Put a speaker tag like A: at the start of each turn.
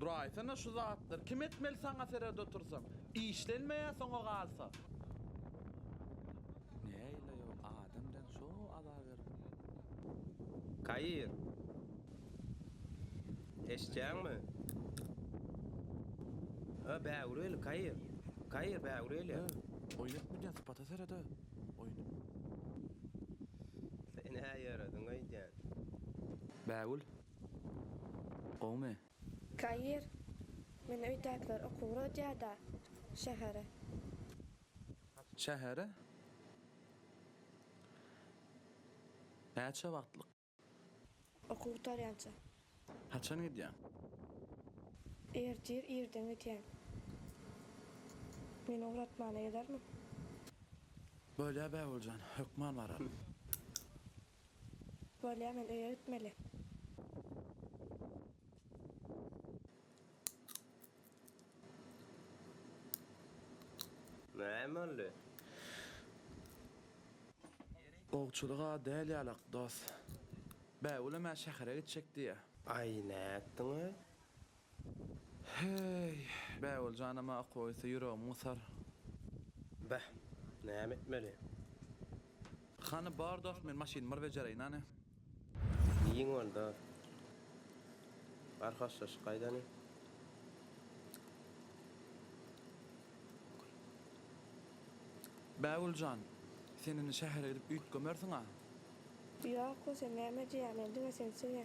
A: Duraýsana şu zatlar kim etmeli saňa seret otursam işlenmeýä soňa galsa. Näile ýol adam den şo azar berip. Kair. Eşitýäňmi. Öö bägüri eli Kair. Kair bägüri eli. Öö oýun etmedýän sypata seret öö oýuny. Sen-ä ýörediň öýdýän. Bägül Gowmy? Kair, Men öýdäkiler okuwa uradýa-da, şähere. Şähere? Näçe wagtlyk? Okuw gutarýança. Haçan gidýäň? Ertir irden gidýän. Meni ugratmana gelermiň? Bolýa, Bägüljan, hökman bararyn. Bolýa men öýe gitmeli. Näme boldy? Gowçulyga däl ýalak dos. Bägül emä şähere gitjek diýýä. Aý nätdiňä? Heý, Bägül janam-a okoýsa ýüregim gysar. Beh, näme etmeli? Hany bar dost men maşyny bir bejereýin hany. Diýiň onda. Bar hoşlaşyk gaýdany. Bägül jan, sen indi şähere gidip üýtgemersiň-a. Ýok, bolsa näme edýärin, diňe sen söýe.